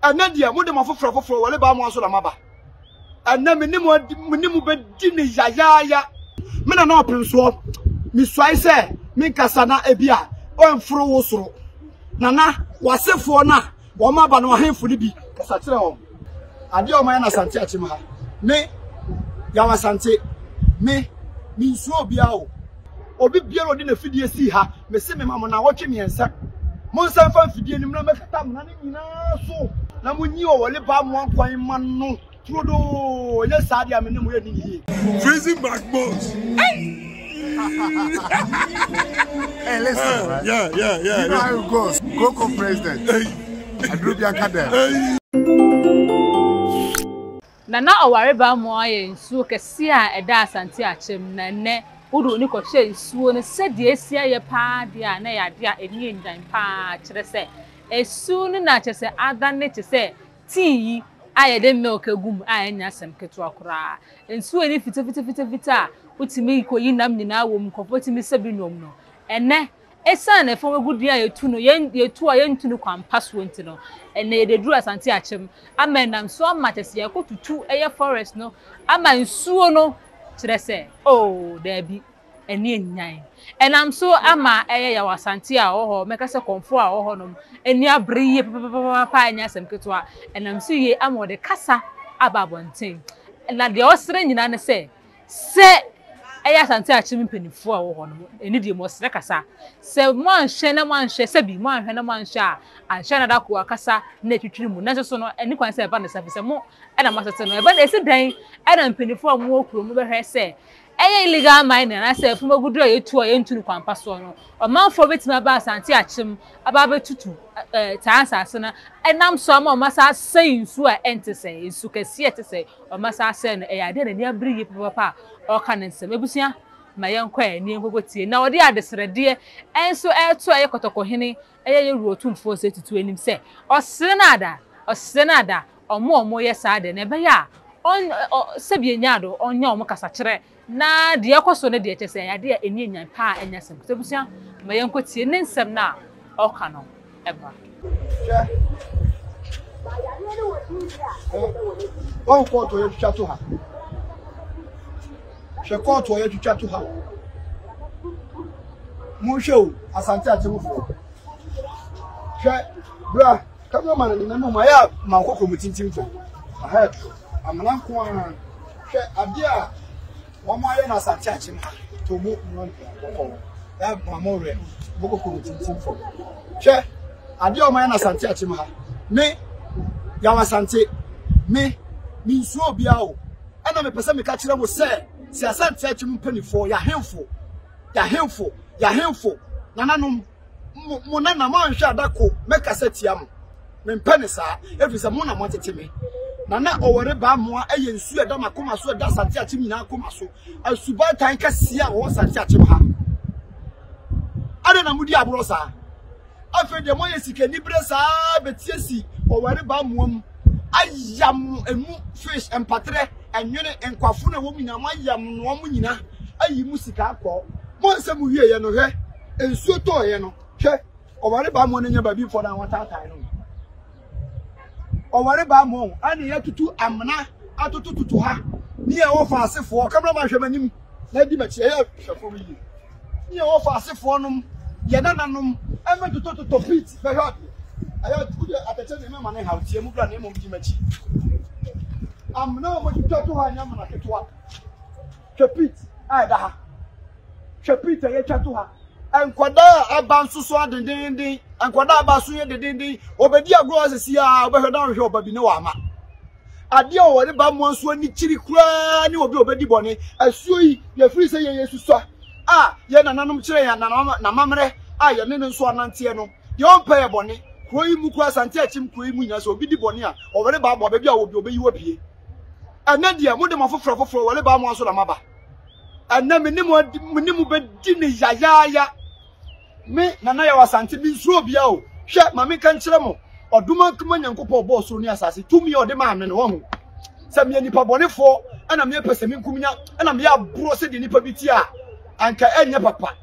Ɛnnɛ deɛ, mode mo afoforɔafoforɔ ware baa mo ara so na moaba. Ɛnnɛ, me ne mo adi, me ne mo bɛdi no yayaaya. Me Nana Ɔpemsoɔ, mesuae sɛ menkasa na ebia ɛmforo wo soro. Nana, w'asefoɔ no a wɔaba no, ahemfo no bi, kasa kyerɛ wɔn. Adeɛ a wɔayɛ no Asante Akyem ha, me, Yaw Asante, me, mensuro obiara o. Obi biara ɔde n'afidie sii ha, mese mema mo nnawɔtwe mmiɛnsa. Monsan mfa mfidie no mmra mmɛkata amena no nyinaa so na monyi ɔwɔlebaa mmoa nkwan mma no turodoo, ɛnyɛ saa deɛ a me ne mo yɛnni no yie. Freezing back bones. hey, listen, uh, right? Yeah, yeah, yeah. You know yeah. how it goes. Coco president. Hey. Adrubian Kadel. Hey. Na na ɔware bammɔ ayɛ nsuo kɛseɛ a ɛda Asante akyɛm, na ɛnnɛ wode w'ani kɔhwɛ nsuo no sɛdeɛ asi ayɛ pa ara deɛ a, na ɛyɛ adeɛ a ani nnyan pa ara, kyerɛ sɛ, asuo no na kyerɛ sɛ adane te sɛ tii yi a yɛde milk gu mu a ɛnyɛ asɛm ketewa koraa. Nsuo a ani fitafitafitafita a wotumi kɔyi nam nyinaa wɔ mu, nkurɔfoɔ tumi sa bi nom no, ɛnnɛ Esiane ɛfɔn w'agudie a yɛtu no, yɛn, yɛtu a yɛntu no kwan pa soɔ nti no, ɛnnɛ yɛde aduru Asante Akyem ama ɛnam so ama kyɛ sɛ yɛakɔ tutu ɛyɛ forest no ama nsuo no, kyerɛ sɛ, oh, daabi, ɛnne anyan. Ɛnam so ama ɛyɛ yaw Asante a ɔwɔ hɔ, mɛka sɛ kɔmfoɔ a ɔwɔ hɔnom, ani abere yie papapapapapa, ɛnyɛ asɛm ketewa, ɛnam so yie ama ɔde kasa aba abɔnten. Na deɛ ɔsrɛ nyinaa ne sɛ, Sɛ ɛyɛ Asante Akyem mpanyimfoɔ a wɔwɔ hɔ no ani deɛ wɔsrɛ kasa. Sɛ moanhwɛ na moanhwɛ, sɛbi moanhwɛ na moanhwɛ a, anhwɛ a na Darko akasa na atwitwiri mu. Nanso so no, ɛnni kwan sɛ ɛba ne saa, efisɛ mo na moasɛte no. Ɛba esi dɛn na mpanyimfoɔ a wɔwɔ kurom no bɛhwɛ sɛ ɛyɛ illegal mining anaasɛ fam agudeɛ a yɛtu a yɛntu no kwan pa soɔ no, ɔmanfoɔ bɛtumi aba Asante Akyem aba abɛtutu saa nsase no nam so ama wɔasan asɛe nsuo a ɛnte sɛɛ, nsu kɛseɛ a ɛte sɛɛ? Ɔma saa sɛɛ no, ɛyɛ adeɛ a n'ani abere yie papaapa a ɔreka ne nsɛm. Abusua, ma yɛnkɔ ɛ nie nkɔkɔ tie. Na ɔde adesrɛdeɛ nso reto ɛyɛ kɔtɔkɔhene, ɛyɛ yɛ wurotumfoɔ sɛ tutu anim sɛ, ɔsrɛ no ada, ɔsrɛ no ada, ɔmo a ɔmo yɛ saa deɛ, na ɛbɛyɛ a ɔn ɔ sɛbi ɛnya ado, ɔnyɛ ɔmo kasakyerɛ Na deɛ ɛrekɔ so no deɛ, kyerɛ sɛ ɛyɛ adeɛ a ɛni anyan paa a ɛnyɛ asɛm. So abusua, ma yɛnkɔtie ne nsɛm no a ɔreka no mmra. Hwɛ, wɔn kɔɔto a yɛatwitwa to ha. Hwɛ kɔɔto a yɛatwitwa to ha. Monhwɛ o, Asante Atemmufoɔ. Hwɛ, bra. Camera man ne mɛmɔ mu ayɛ a ma nkɔkɔ mu tintim fam. Ahead. Amena nko ara. Hwɛ ade a wɔn ayɛ no asante akye no to mu mmɔ nkɔkɔ. Ɛ ma mo rɛ. Mo kɔkɔ mu tintim fam. Hwɛ ade a wɔn ayɛ no asante akye mu ha. Me yaw asante. Me me nsuo obiara o. Ɛna mepɛ sɛ meka kyerɛ mo sɛ sɛ asante akye mu mpanimfoɔ yɛahemfo yɛahemfo yɛahemfo nananom mo mo na na moanhwɛ ada ko mɛkasa tia mo mempɛ ne saa ɛfiri sɛ mo na moatete me na na ɔwɔre baa mmoa ɛyɛ nsuo ɛda makoma so ɛda asante akyem nyinaa akoma so asubatan kɛseɛ a wɔwɔ asante akyem ha adɛ na modi aborɔ saa afei deɛ moayɛ sikani berɛ saa bɛtie si ɔwɔre baa mmoa mu ayam emu fish mpatrɛ ɛnwene nkwafo na ɛwɔ mu nyinaa moayam noa mu nyinaa ayi mu sika akɔ mo nsɛm wieɛ no hwɛ nsuo tɔɔeɛ no hwɛ ɔware baa mu no nyɛ baabi mfɔ no a wɔtaatae no ɔware baa mu ɛne yɛtutu amena atotototo ha ne yɛ wɔfa asefoɔ kamera ma hwɛ m'anim na di m'akyi ɛyɛ hwɛfoɔ no yie ne yɛ wɔfa asefoɔ nom yɛ nananom ɛmɛ totototɔ feet bɛhwɛ adeɛ ɛyɛ wode atɛkyɛ ne mɛma ne ha tie mu bra ne mmom di m'akyi amena a wɔtwitwa to ha nyɛ amena ketewa Hwɛ pit a ɛda ha. Hwɛ pit a yɛatwa to ha. Nkwadaa a ɛba nso so adendeenden. Nkwadaa a ɛba so yɛ dendeenden. Wɔbɛdi agorɔ hɔ sisi a wɔbɛhwɛ na wɔhwɛ ɔba bi na wɔama. Adeɛ a wɔde ba mmoa nso ani kyiri koraa ne obi a ɔbɛdi bɔne. Asuo yi, yɛfiri sɛ yɛyɛ susua a yɛn nananom kyerɛ yɛn n'amammerɛ a yɛne no nso ananteɛ no, deɛ ɔmpɛ yɛ bɔne. Kuro yi mu koraa, Asante Akyem kuro yi mu nyinaa, sɛ obi di bɔne a, wɔde ba mmoa, baabi a ɔwɔ bi, wɔbɛyi wo apue. ɛnɛ deɛ mode mo afoforɔ afoforɔ wɔle baa mo aso na maba ɛnɛ me ne mo adi me ne mo bɛdi ne yayaaya me nana yɛ wɔ asante me nsuro bia o hwɛ ma menka nkyerɛ mo ɔdom ankoma nyankopɔn ɔbɔɔ soro ne asase tumi a ɔde maa me no wahu sɛ meyɛ nipa bɔnefoɔ ɛna meyɛ pɛ sɛ menkum nya ɛna meyɛ aborɔ sɛdeɛ nipa bi ti a anka ɛnyɛ papa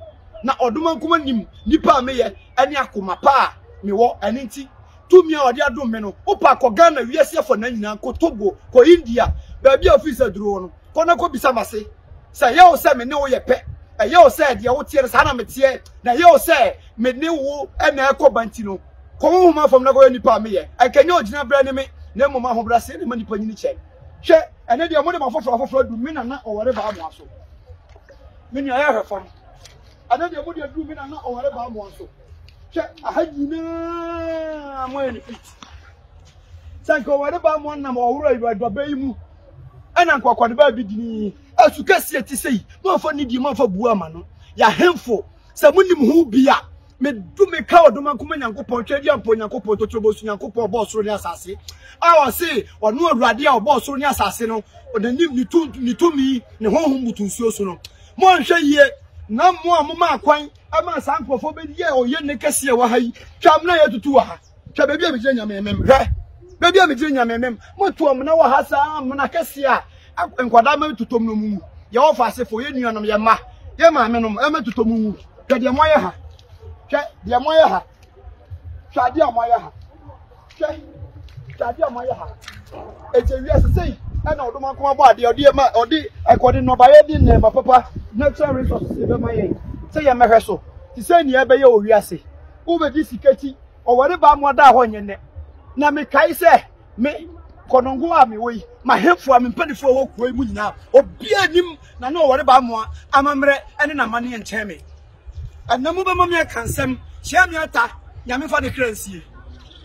na ɔdom ankoma nim nipa a meyɛ ɛne akoma pa a mewɔ ɛne nti Tumi a ɔde adom me no, wopa kɔ Ghana wiase afa na nyinaa, kɔ Togo, kɔ India, baabi a ofii sɛ duro wɔ no, kɔ na kɔ bisa mase sɛ ɛyɛ wo sɛ me ne wo yɛ pɛ, ɛyɛ wo sɛ deɛ woteɛ no saa na meteɛ, na ɛyɛ wo sɛ me ne wo na ɛkɔ ba nti no, kɔ honhom afam na kɔ yɛ nipa a meyɛ, ɛnka nyɛ ogyina berɛ ne me, na mmom ahobraseɛ na ɛma nipa nyini kyɛn. Hwɛ, ɛnɛ deɛ mode mo afoforɔ afoforɔ aduru me na na ɔware baa mo aso. Me nua yɛ hwɛ fam. Ɛnɛ deɛ mode aduru me na na ɔware baa mo aso. hwɛ aha nyinaa moyɛ ne fit sɛ nka ɔwɔde baa mo nam ɔworo awuraba yi mu ɛna nka ɔkɔde baa bi dini asu kɛseɛ te sɛ yi moamfa ne die moamfa buo ama no yɛahemfo sɛ monim ho bi a medu meka ɔdoma nkoma nyankopɔn twɛ deɛ mpɔ nyankopɔn totorobo so nyankopɔn ɔbɔɔ soro ne asase a ɔse ɔno awurade a ɔbɔɔ soro ne asase no ɔnanim ne tumi ne honhom butu nsuo so no monhwɛ yie na mo a moma akwan ɛmaa saa nkurɔfoɔ bɛyɛɛ ɔyɛnne kɛseɛ wɔ ha yi twam na yɛtutu wɔ ha hwɛ baabi a megyina nyamemem hwɛ baabi a megyina nyamemem moto amena wɔ ha saa amena kɛseɛ a ak- nkwadaa ma tutom no mu wu yɛwɔ fa asefoɔ yɛ nuanom yɛ mma yɛ maame nom ɛma tutom mu wu hwɛ deɛ moayɛ ha hwɛ deɛ moayɛ ha hwɛ adeɛ a moayɛ ha Hwɛ, hwɛ adeɛ a moayɛ ha. Ɛkyɛ wiase sei ɛna ɔdom akoma bɔ adeɛ ɔde ma ɔde ɛkɔde nnɔbaeɛ de nneɛma papa natural resources ɛbɛma yɛn sɛ yɛmmɛhwɛ so te sɛ nea ɛbɛyɛ wɔ wiase. Wobɛgye sika ti ɔware baa mu adaa hɔ nyɛ nnɛ. Na mekae sɛ me kɔnɔngo a mewɔ yi m'ahemfo a me mpanimfoɔ a ɛwɔ kuro yi mu nyinaa obiara nim na ne ɔware baa mu amammerɛ ne n'amanneɛ nkyɛn me. Ɛnɛ mo bɛma me aka nsɛm kyerɛ me ata nyame fa ne kra nsie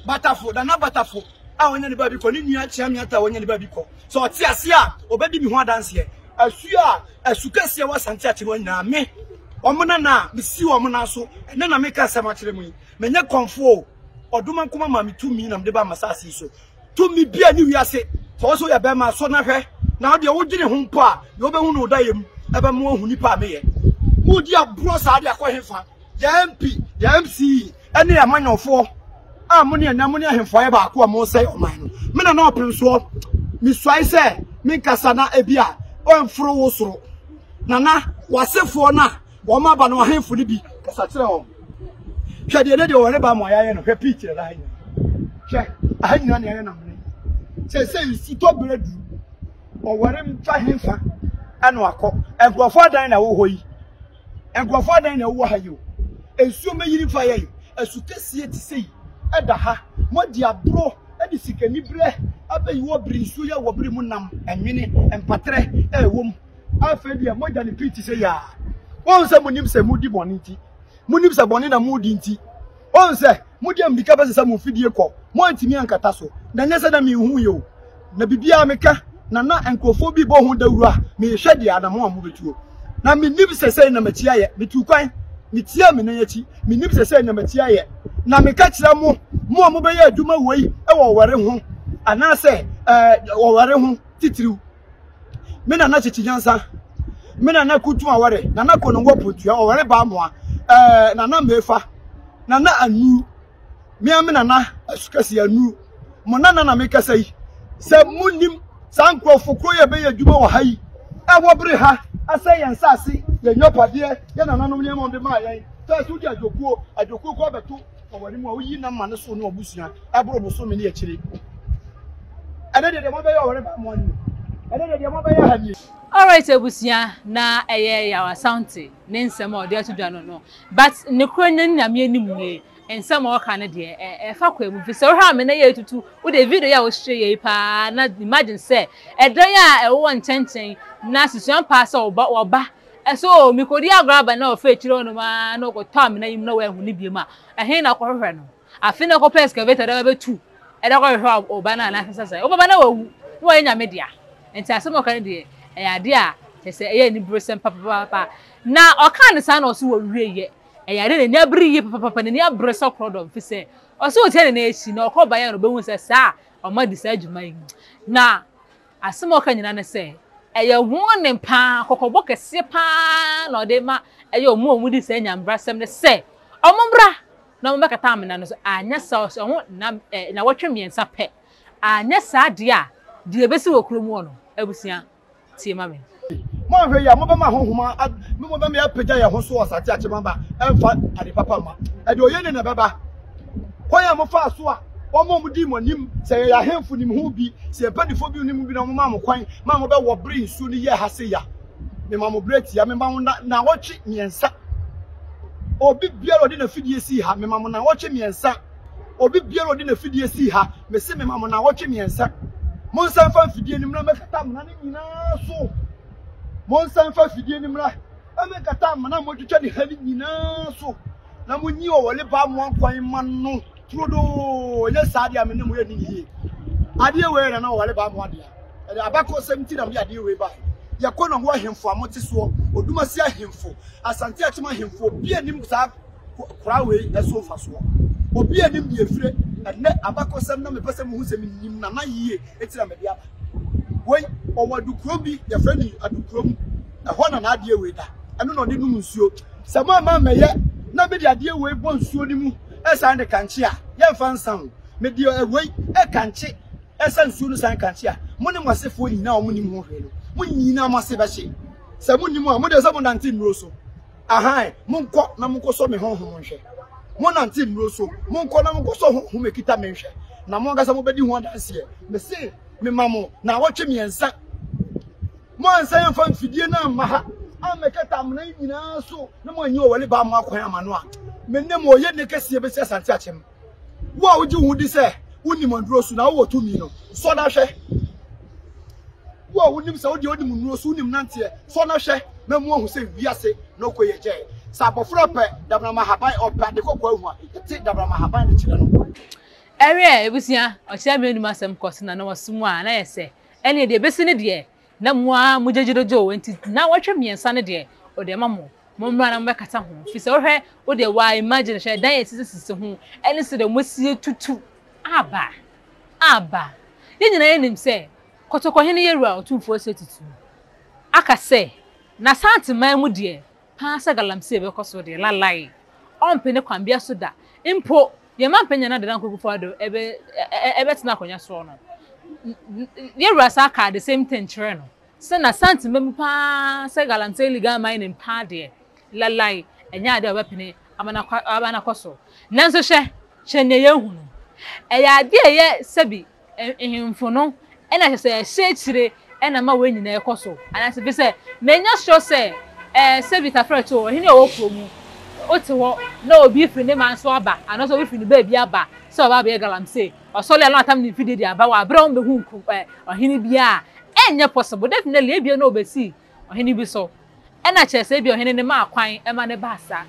batafo nana batafo a wɔnyɛ ne baabi kɔ ne nua kyerɛ me ata a wɔnyɛ ne baabi kɔ sɛ ɔte ase a ɔbɛdi me ho adanseɛ asu a asu kɛseɛ wɔ asante ate no nyinaa me wɔn nana a mesi wɔn nan so ɛnɛ na meka asɛm akyerɛ mu yi menyɛ kɔmfoɔ o ɔdoma nkoma ma me tumi na mede ba masase so Tumi bia ni wiase. Sɛ wo so yɛ bɛma so na hwɛ. Na wo deɛ wo dwene ho mpo a, deɛ wobɛhu no wo dayɛ mu ɛbɛma wahu nipa a meyɛ. Modi agorɔ saa de akɔ hefa? Yɛn MP, yɛn MC ɛne yɛn amanyɔfoɔ a mo ne ɛnɛ mo ne ahemfo ayɛ baako a mo sɛe ɔman no. Me Nana Ɔpemsoɔ, me suae sɛ me nkasa na ebi a, ɔmforo wo soro. Nana, w'asefoɔ no a Wɔn aba no ahemfo no bi kasa kyerɛ wɔn. Hwɛ deɛ ne deɛ wɔreba ama yɛayɛ no hwɛ pii kyerɛ ha nyina. Hwɛ aha nyina ne yɛyɛ namene. Sɛ sɛ nsutɔ berɛ du ɔware mfa hemfa ɛna akɔ. Nkurɔfoɔ adan na ɛwɔ hɔ yi. Nkurɔfoɔ adan na ɛwɔ ha yi o. Nsuo mɛyiri fa yɛn. Asu kɛseɛ te sɛ yi ɛda ha. Moadi aborɔ de sikaniberɛ abɛyi wɔ bere nsuo yɛ wɔ bere mu nam ɛnwene mpaterɛ ɛwɔ mu. Afei deɛ mogya ne pii te sɛ yaa. Wɔn sɛ monim sɛ mudi bɔne nti, monim sɛ bɔne na modi nti, wɔn sɛ mode mmirika bɛsesa mo mfidie kɔ, moantumi ankata so, na nyɛ sɛ na menhu yɛ o, na biribiara meka, na na nkurɔfoɔ bi bɔ ho dawuro a mehwɛ deɛ anammɔn a mobɛtuo. Na menim sɛ sɛi na m'akyi ayɛ, metuu kwan, metiaa me nan akyi, menim sɛ sɛi na m'akyi ayɛ, na meka kyerɛ mo, mo a mobɛyɛ adwuma woi wɔ ɔwɛre ho, anaasɛ ɛɛ ɔwɛre ho titiriw. Me nana kyekye nyansa. Me nana kutu aware. Nana kono wɔ pontua ɔware baa moa. Ɛɛ nana mefa. Nana anu. Me a me nana asukasi anu. Mo nana na me kasa yi. Sɛ mo nim saa nkurɔfo koro yɛ bɛyɛ adwuma wɔ ha yi. Ɛwɔ bere ha asɛ yɛn nsaase yɛn nyapadeɛ yɛn nananom nneɛma wɔn de maa yɛn. Fɛs wodi adwokuo adwokuo kɔ abɛto. Ɔwɔ ne mu a woyi nam ma ne so ne ɔbusua ɛboro bosome ne akyire. Ɛnɛ deɛ deɛ mabɛyɛ ɔwɔ ne ba mmoa ne mu. Ɛnɛ deɛ deɛ mabɛyɛ ha nie. Alright abusua na ɛyɛ Yaw Asante ne nsɛm a ɔde ato dwa no no but nokorɛ no Nyame anim nie nsɛm a ɔka no deɛ ɛfa kwa mu firi sɛ wohwɛ a me na yɛ retutu wode video yi a wohyɛ yɛ yi paa na imagine sɛ ɛdan a ɛwowɔ nkyɛnkyɛn na susuan paa sɛ wɔba Sɛ o mikodi agor aba na ɔfa ekyir hɔnom ara na ɔkɔtɔ amena yi mu na oennhu no bio mu a, hen na ɔkɔhwehwɛ no? Afei na ɔkɔpɛ excavator dɛ ɔbɛtu dɛ ɔkɔhwehwɛ ɔba no anaa sesasɛm. Ɔbɛba na ɔawu na ɔayɛ Nyame dea. Ntsi asɛm a ɔka no deɛ, ɛyɛ ade a kyerɛ sɛ ɛyɛ aniberesɛm papaapa. Na ɔkaa no saa na ɔse wɔwieeɛ. Ɛyɛ ade a n'ani abere yie papaapa, n'ani abere sɛ korɔdɔm fi sɛ ɔse otia ne nan akyi na ɔkɔbaeɛ a na ɔbɛhuu sɛ saa a ɔma di saa dwuma yi. Na. Asɛm a ɔka nyinaa ne sɛ, ɛyɛ wɔn nne pa ara, kɔkɔbɔ kɛseɛ pa ara na ɔde rema ɛyɛ wɔn a wɔdi saa Nya mbrasɛm no sɛ, Wɔmmra na wɔmmɛkata amena no so, anyɛ saa a ɔsɛ wɔn nna ɛ, nnawɔtwe mmiɛnsa pɛ, anyɛ saa deɛ a, deɛ ɛbɛsi wɔ kurom hɔ no, abusua, tie ma me. Mo anhwɛ yi a, mobɛma honhom a me mu bɛma yɛapagya yɛn ho so wɔ asase akyem aba ɛmfa ade papa mma. Ɛde ɔyɛ ni na ɛbɛba. Kwan a mofaa so a wɔn a wɔdii mo anim sɛ yɛyɛ ahemfo nim ho bi, sɛ yɛn mpanyinfoɔ bi nim ho bi na wɔmaa mo kwan maa mobɛwɔ bere nsuo no yɛɛ ha sei a, mema mo berɛ tia. Mema mo nnawɔtwe mmiɛnsa. Obi biara a ɔde n'afidie sii ha, mema mo nnawɔtwe mmiɛnsa. Obi biara ɔde n'afidie sii ha, mese mema mo naawɔtwe mmiɛnsa. Monsan fa mfidie no mmra mɛkata amena no nyinaa so. Monsan fa mfidie no mmra mɛkata amena a moatwitwa ne ha no nyinaa so. Na monyi ɔwɔle baa mo ankwan mma no turodoo. Ɛnyɛ saa deɛ a me ne mo yɛnni ne yie. Adeɛ wei na na ɔwɔle baa mo adea. Ɛde abakɔsɛm nti na mede adeɛ wei baa. Yɛkɔ na ho ahemfo a mote soɔ, Odumase ahemfo, Asante Akyem ahemfo, obi anim saa. kora wei so mfasoɔ. Obi a nim deɛ efire ɛnɛ abakɔsɛm na mepɛ sɛ muhu sɛ menim Nana yie eti na mede aba. Wei ɔwɔ adukurom bi yɛfrɛ no adukurom ɛhɔ na n'adeɛ wei da ɛno na ɔde nom nsuo. Sɛ mo amma mmɛyɛ na mede adeɛ wei bɔ nsuo no mu ɛsan de kankye a yɛmfa nsa ho. Mede wei ɛkankye ɛsa nsuo no san kankye a mo ne mo asefoɔ nyinaa a wɔnim ho hwee no mo nyinaa mo ase bɛhye. Sɛ monim a mo deɛ sɛ monante nnuro so. Ahan, monkɔ na monkɔsɔ me honhom nhwɛ. Monnante nnuro so, monkɔ na monkɔsɔ honhom a ɛkita me nhwɛ, na mo ankasa mobɛdi ho adanseɛ. Mese mema mo naawɔtwe mmiɛnsa. Moansan amfa mfidie no amma ha ammɛkata amena yi nyinaa so na moanyi ɔware baa mo akwan ama no a, me ne mo ɔyɛ nne kɛseɛ bɛsi Asante Akyem. Wo a wogye wo ho di sɛ wonim aduro so na wowɔ tumi no, sɔ na hwɛ. Wo a wonim sɛ wodeɛ wonim nnuro so, wonim nanteɛ, sɔ na hwɛ na mu ahu sɛ wiase na ɔkɔ yɛ gyɛɛ. Sɛ abɔfra ɔpɛ dabrama haban, ɔpɛ ade kɔkɔɔ ahu a, ɛte dabrama haban de kyerɛ no. Ɛwɛɛ, abusua, ɔkyerɛ me anom asɛm kɔ so na na wɔsom a, na yɛ sɛ, ɛneɛ deɛ ɛbɛsi ne deɛ, Na mo ara mogye gyododwoo, enti nnawɔtwe mmiɛnsa no deɛ, ɔde ama mo. Mommra na mobɛkata ho, firi sɛ wohwɛ, wo deɛ waa imagine, hwɛ, dan a ɛsisisisi ho, ɛne sɛdeɛ moasie tutu. Aba! Aba! Yɛn nyinaa yɛnim sɛ, Kɔtɔkɔhene Yeru a Otumfoɔ Seti tu, aka sɛ, N'Asante man mu deɛ, paa sɛ galamsey bɛkɔ so deɛ, lalai, ɔmpe ne kwan bia so da. Mpo, yɛn mampanin Nana Dada Nkogu-Foado ɛbɛtena akonnwa soɔ no, yɛn wura saa kaa the same thing kyerɛɛ no sɛ n'Asante mma mu paa sɛ galamsey legal mining paa deɛ, lalai, ɛnyɛ adeɛ a ɔbɛpene ama no akɔ so. Nanso hwɛ, hwɛ nea yɛahu no. Ɛyɛ adeɛ a ɛyɛ sɛbi Nhemfo no na ɛsɛ sɛ ɛhyɛ akyire na ama wei nyinaa kɔ so anaasɛ? Ɛfiri sɛ manya sure sɛ ɛɛ Sɛbi Tafrɛ Too, ɔhene a ɔwɔ kuro mu, wote hɔ na obi firi ne man so aba anaasɛ obi firi ne baabi aba sɛ ɔreba abɛyɛ galamsey. Ɔsɔre a na watam ne mfidie de aba, wabrɛ wɔn bɛhu nku ɛɛ ɔhene biara a, ɛnyɛ possible. Definitely ebia na ɔbɛsi Ɔhene bi so. Ɛna kyerɛ sɛ ebia ɔhene no maa kwan ma no baa saa.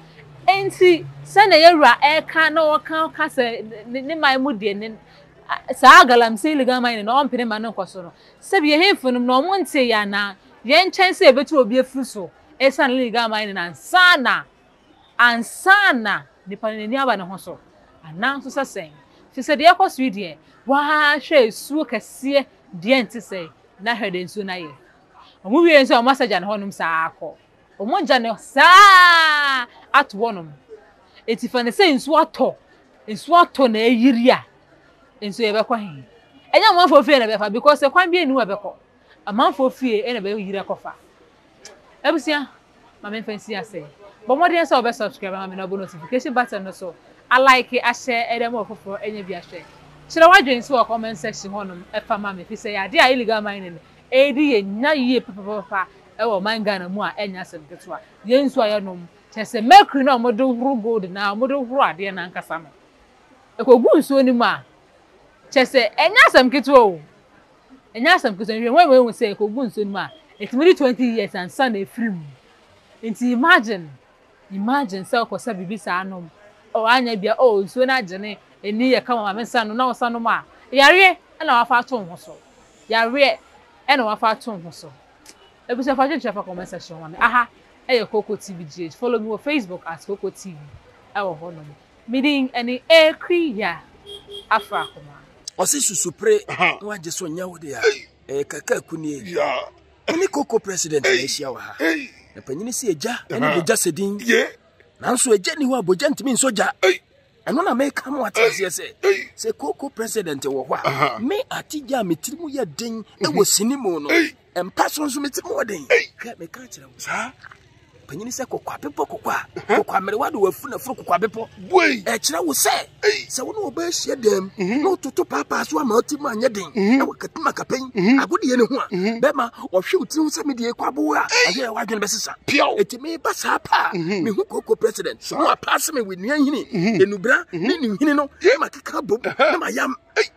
Enti sɛnea yɛn wura reka na ɔka ka sɛ ne man mu deɛ ne saa galamsey legal man no ɔmpene ma no nkɔ so no sɛ bi yɛhemfo nom na wɔn nte yɛ anaa yɛn nkyɛn sɛ yɛbɛtu obi afiri so ɛsan ne legal man no ansa na ansa na nipa no n'ani aba ne ho so anaa nso sɛ sɛn fi sɛ deɛ ɛkɔ so yi deɛ wɔahwɛ esuo kɛseɛ deɛ nte sɛ na hwɛ deɛ nsuo no ayɛ Wɔn wie nso a wɔn asagya no hɔnom saa kɔ. Wɔn gya no saa ato hɔnom. Eti fa no sɛ nsu atɔ, nsu atɔ na ayiri a, nso yɛbɛkɔ he? Ɛnyɛ amanfoɔ fie na bɛfa because kwan bi ani hɔ bɛkɔ. Amanfoɔ fie na bɛyiri akɔfa. Abusua, Ma memfa nsi ase. Bɔ mmɔden sɛ wobɛ subscribe ma me na wobɔ notification button no so, a like ahyɛ de ama ɔfoforɔ anya bi ahwɛ. Kyerɛ w'adwene nso wɔ comment section hɔnom fa ma me ɛfiri sɛ ɛyɛ adeɛ a illegal mining ɛredi yɛn nya yie papapapa wɔ ɔman Ghana mu a ɛnyɛ asɛm ketewa. Yɛn nsuo a yɛnom, kyerɛ sɛ mercury no a wɔde horo gold no ara, wɔde horo adeɛ no ankasa no, ɛkɔgu nsuo no mu a, kyerɛ sɛ ɛnyɛ asɛm ketewa o. Ɛnyɛ asɛm ketewa. Nhwehwɛmu ama yɛahu sɛ ekogu nsuo no mu a, etumi di twenty years ansa na efiri mu. Nti imagine, imagine sɛ wokɔsa biribi saa nom, oh anyɛ bia, oh nsuo no agyene, ani yɛ kama, maame nsa no na wosa nom a, yareɛ na woafa ato wo ho so. Yareɛ na woafa ato wo ho so. Abusua fa adwenkyerɛ fa comment section ma me. Aha ɛyɛ Koko TV GH. Follow me wɔ Facebook at Koko TV ɛwɔ hɔ nom. Me din ɛne Eekri ya afra akoma. Ɔse susu pre ho agye so nyɛ wo dea ɛyɛ kaka ku nie me ne koko president na ahyia wɔ ha na panyini se agya ɛne bogya sɛ din nanso agya ni hɔ a bogya ntumi nsɔ gya ɛno na meka mo ate aseɛ sɛ sɛ koko president wɔ hɔ a me ate gya a me tiri mu yɛ den ɛwɔ sini mu no mpa so nso mete mu ɔden hwɛ meka kyerɛ wo saa panyini sɛ kɔkɔa bepɔ kɔkɔa kɔkɔa mmerewa de wafu na foro kɔkɔa bepɔ ɛkyerɛ wo sɛ sɛ wo ne ɔba ahyia dɛm mhm. na wototo paapaa so ama ɔti mu anyɛ den mhm. na wakatuma kapɛn mhm. agodeɛ no ho a bɛma ɔhwe wo tiri ho sɛ medeɛ ɛkɔ aboa a ɛyɛ wadwene bɛsesa ɛti meba saa paa mehu koko president na wapaase me wɔ nnuanhini ɛnubra ne ne nhini no ma keka bom na mayam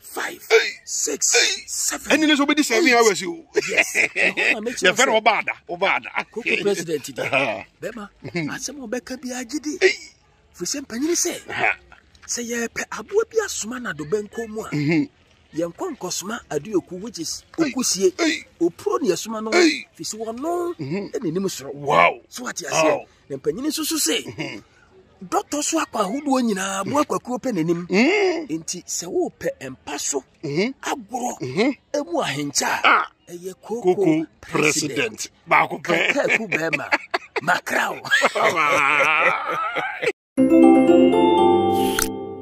five six seven. ɛni ni so bɛ di seven hours o. yɛ fɛrɛ o b'a da o b'a da. koko president di bɛma asɛm o bɛ kɛ bi a jidi fisɛ mpanyini sɛ sɛ yɛ pɛ aboa bi asoma na do bɛ nkɔ mu a mhm. yɛ nkɔ nkɔsoma aduoku which is okusie opuro ni ɛsoma no fisɛ wɔn no ɛna mhm. anim soro so ati aseɛ na mpanyini nso so sɛ. Mhm. Dɔtɔ so akɔ ahodoɔ nyinaa mu akwakuo pɛ n'anim. Nti sɛ wopɛ mpa so agorɔ emu ahenkyɛ a ɛyɛ koko president baako pɛ. Kakaku bɛrima makraw.